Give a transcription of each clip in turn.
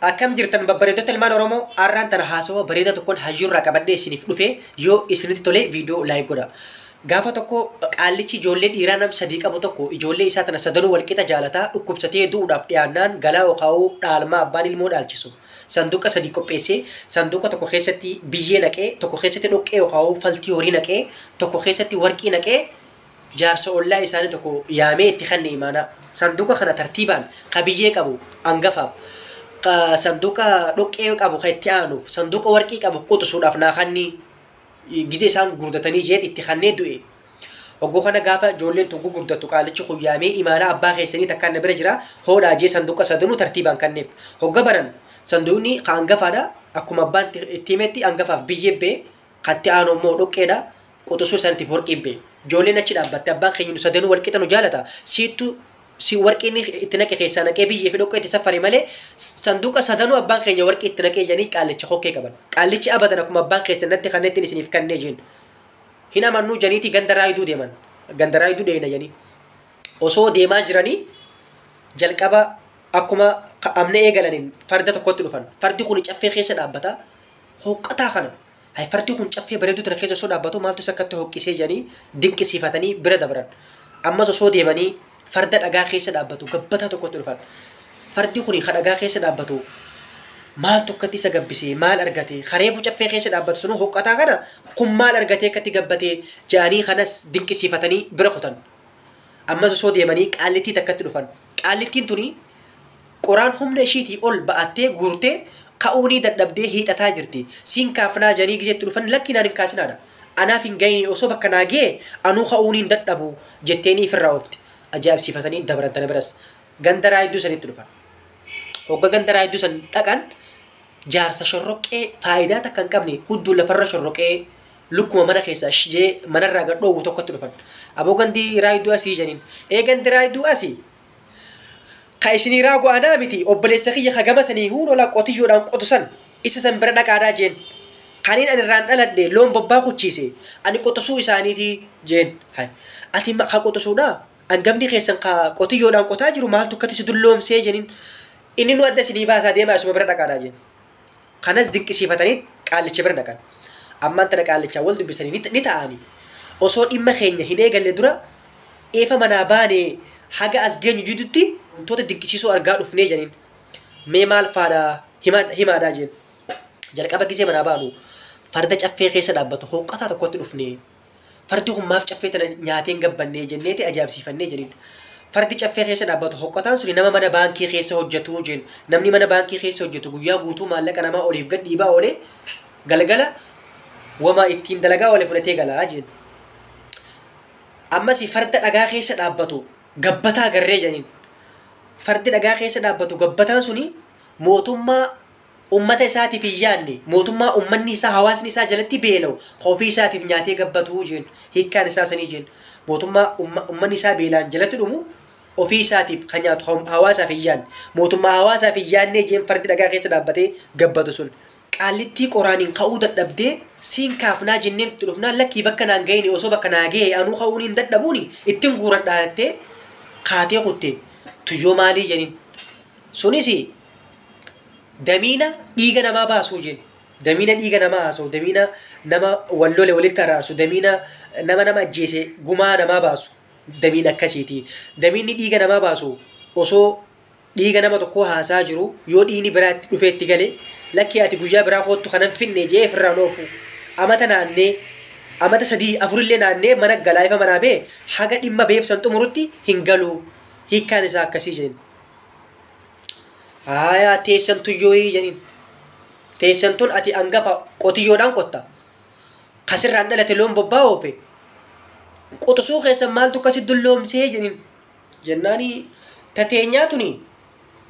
Akkam jirtan babbareedota ilmaan Oromoo har'aan tana haasawa bareedaa tokkoon hayyuurraa qabadhee isiniif dhufee yoo isinitti tolee viidiyoo laayik godha. Gaafa tokko qaallichi ijoollee dhiiraa nam sadii qabu tokko ijoollee isaa tana sadanuu walqixa jaalataa dhukkubsatee du'uudhaaf dhiyaannaan galaa okaa'uu dhaalmaa abbaan ilmoo dhaalchisu. Sanduuqa sadii qopheessee sanduuqa tokko keessatti biyyee naqee tokko keessatti dhoqqee okaa'uu faltii horii naqee tokko keessatti warqii naqee Jaarsa ollaa isaanii tokko yaamee itti kenne imaanaa. Sanduuqa kana tartiibaan qabiyyee qabu angafaaf, ka sanduuqa dhoqqee qabu ka itti aanuuf, sanduuqa warqii qabu quxusuudhaaf naa kanni gizee isaan gugurdatanii jeet itti kannee du'e. Hogguu kana gaafa ijoolleen tun gugurdattu qaalichi kun yaamee imaanaa abbaa keessanii takkaan na bira jira hoodhaa jee sanduuqa sadanuu tartiibaan kanneef. Hogga banan sanduuqni ka angafaadha akkuma abbaan itti himetti angafaaf biyyee bee Katti aanu immoo dhoqqeedha. Quxusuu santiif warqii bee. Joolleen achi dhaabbatte abbaan keenya nu sadanuu wal qixa nu jaalata. Siittu si warqiin itti naqe keessaa naqee biyyee fi dhoqqee itti saffari malee sanduuqa sadanuu abbaan keenya warqii itti naqee jedhanii qaallicha kokkee qaban. Qaallichi abadan akkuma abbaan keessan natti kannettiin isiniif kannee jeen. Hin amannuu janiitii ganda raayiduu deeman. Ganda raayiduu dheeyna janii. Osoo deemaa jiranii jalqaba akkuma amna eegalaniin farda tokkotti dhufan. Fardi kun caffee keessa dhaabbata. hooqqataa kana hayfartii kun caffee bareedduu tana keessa osoo dhaabbatuu maaltu isa akkatti hooqqisee jedhanii dinqisiifatanii bira dabran. Ammas osoo deemanii farda dhagaa keessa dhaabbatu gabbataa tokkotti dhufan. Fardi kun ka dhagaa keessa dhaabbatu maaltu akkatti isa gabbisee maal argatee kareefu caffee keessa dhaabbatu sunuu hooqqataa kana kun maal argatee akkatti gabbatee jedhanii kanas dinqisiifatanii bira kutan. Ammas osoo deemanii qaallittii takkatti dhufan. Qaallittiin tuni Qoraan humna ishiitii ol ba'attee guurtee ka'uunii dadhabdee hiixataa jirti. Siin kaafnaa jedhanii gizee itti dhufan lakkii naan hin kaasinaadha. Anaaf hin gayinii osoo bakka naa gayee anuu ka'uunii hin dadhabuu jetteenii ifirraa oofti. Ajaa'ibsiifatanii dabran tana biras ganda Raayidduu sanitti dhufan. Hogga ganda Raayidduu san dhaqan jaarsa shorroqqee faayidaa takka hin qabne hudduu lafarra shorroqee lukkuma mana keessaa shijee manarraa gad dhoowwu tokkotti dhufan. Aboo gandi Raayidduu asii jedhaniin. Ee gandi Raayidduu asii Ka isinii raagu anaa miti, obboleessa kiyya ka gama sanii huunola qotiyyoodhaan qotu san, isa san bira dhaqaadhaa jeen. Kaniin ani irraan dhaladhe loon bobbaa kuchiise, ani quxusuu isaaniitii jeen. Hay! Ati ma, ka quxusuudhaa? Angafni keessan ka qotiyyoodhaan qotaa jiru maaltu akkatti si dulloomsee? jeniin. Inninuu adda isinii baasaa deemaa isuma bira dhaqaadhaa jeen. Kanas dinqisiifatanii qaallicha bira dhaqan. Ammaan tana qaallichaan wal dubbisanii ni ni ta'aanii. Osoo dhimma keenya hin eegalle dura eefa manaa baanee haga as geenyu jidutti wantoota dinqisiisoo argaa dhufnee jedhaniin. Mee maal faadha himaa himaadhaa jeen. Jalqaba gizee manaa baanu farda caffee keessa dhaabbatu hooqqataa tokkotti dhufnee Fardi kun maaf caffee tana nyaatee hin gabbannee jenneeti ajaa'ibsiifannee jeniin. Fardi caffee keessa dhaabbatu hoqqataan suni nama mana baankii keessa hojjetu jeen. Namni mana baankii keessa hojjetu guyyaa guutuu maallaqa namaa oliif gad dhiibaa oolee galgala wama ittiin dalagaa oole fudhatee galaa jeen. Ammas farda dhagaa keessa dhaabbatu gabbataa garree jeniin. Fardi dhagaa keessa dhaabbatu gabbataan suni mootummaa Ummata isaatiif hin yaadne, mootummaa ummanni isaa, hawaasni isaa jalatti beela'u ka ofii isaatiif nyaatee gabbatu jeen. Hiikkaan isaa sanii jeen. Mootummaa umma, ummanni isaa beelaan jalatti dhumu ofii isaatiif ka nyaatu ha- hawaasaaf hin yaadne. Mootummaa hawaasaaf hin yaadnee jeen fardi dhagaa keessa dhaabbatee gabbatu sun. Qaallittii qoraaniin ka'uu dadhabdee siin kaafnaa jenneen itti dhufnaan lakkii bakka naan gayini osoo bakka naa gaye anuu ka'uu niin dadhabuuni ittin guuradhaa jettee kaatee kutte. Tuyyoo maalii jeniin. Sunis damiina dhiiga namaa baasuu jeen damiina dhiiga namaa haasa'u damiina nama wal lole walitti araarsu damiina nama nama ajjeese gumaa namaa baasu damiina akkasiiti damiinni dhiiga namaa baasu osoo dhiiga nama tokkoo haasaa jiru yoo dhiigni biraa itti dhufee itti gale lakkii ati guyyaa biraa koottu kanan finne jee ofirraan oofu amata naannee amata sadii afurillee naannee mana galaa ifa manaa bee haga dhimma beebsan xumurutti hin galuu hiikkaan isaa akkasii jeen Haayaa teessan tuyyooyii jedhin. Teessan tun ati angafa qotiyyoodhaan qotta. Kasirraan dhalate loon bobbaa oofe. Quxusuu keessan maaltu akkasi dulloomsee jedhin. Jennaani tateenyaa tuni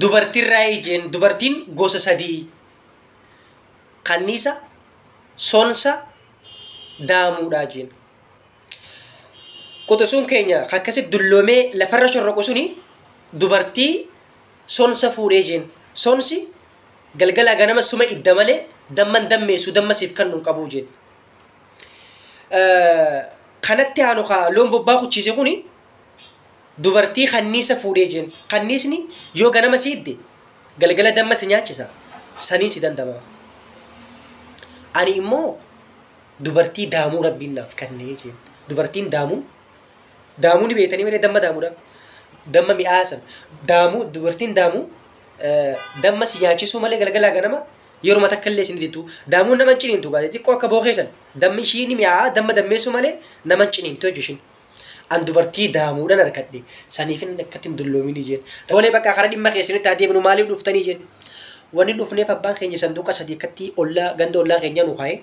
dubartiirraa ijeen dubartiin gosa sadii. Kanniisa, sonsa, daamuudhaa jeen. quxusuun keenya ka akkasi dulloomee lafarra shorroqu suni dubartii sonsa fuudhee jeen sonsi galgalaa ganama suma idda malee damman dammeessu damma siif kan nun qabuu jeen kanatti haanu ka loon bobbaa kuchiise kuni dubartii kanniisa fuudhee jeen kanniisni yoo ganama si idde galgala damma si nyaachisa saniin si dandama ani immoo Dubartii daamuu rabbiin naaf kannee jeen dubartiin daamuu daamuu ni beektanii malee damma daamuudha damma mi'aa san daamuu dubartiin daamuu eh, damma si nyaachisuu malee galgalaa ganama yeruma takka illee isin diddu daamuu nama hin ciniintu gaazee xiqqoo akka bookee san dammi ishii ni mi'aa damma dammeessuu malee nama hin ciniintu jechuun ishiin an dubartii daamuudhaan harkadhe saniif inni akkatti hin dulloominii jeen toolee bakka karaa dhimma keessanitti haa deebinu maaliif dhuftanii jeen wanni dhufneef abbaan keenya sanduuqa sadii akkatti ollaa ganda ollaa keenyaa nu kaa'e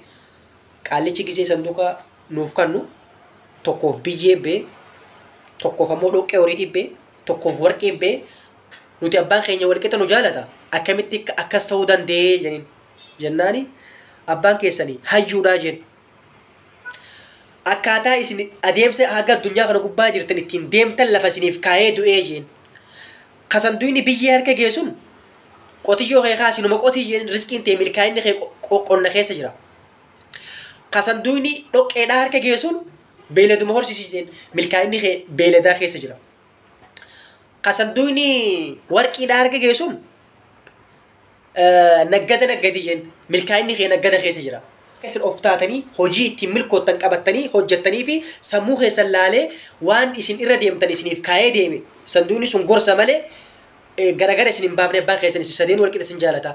Qaallichi gisee sanduuqa nuuf kannu tokkoof biyyee bee tokkoof ammoo dhoqqee horiitii bee tokkoof warqii bee nuti abbaan keenya walqixa nu jaalata akkamitti akka- akkas ta'uu danda'ee jedhin jennaani abbaan keessanii hayyuudhaa jeen akkaataa isin adeemsa haga addunyaa kana gubbaa jirtan ittiin deemtan lafa isiniif kaa'ee du'ee jeen Ka sanduyni biyyee harka gee sun qotiyyoo kee kaasi numa qotii jedhin rizqiin tee milkaa'inni kee qonna keessa jira. Ka sanduyni dhoqqeedhaa harka gee sun beeyladuma horsisi jedhin milkaa'inni kee beeyladaa keessa jira. Ka sanduyni warqiidhaa harka gee sun Naggada naggadii jeen. Milkaa'inni kee naggada keessa jira. Akka isin of taatanii hojii ittiin milkoottan qabattanii hojjettanii fi sammuu keessan laalee waan isin irra deemtan isiniif kaa'ee deeme sanduunni sun gorsa malee eh, garagara isin hin baafne abbaan keessan isin sadeen walqixa isin jaalata.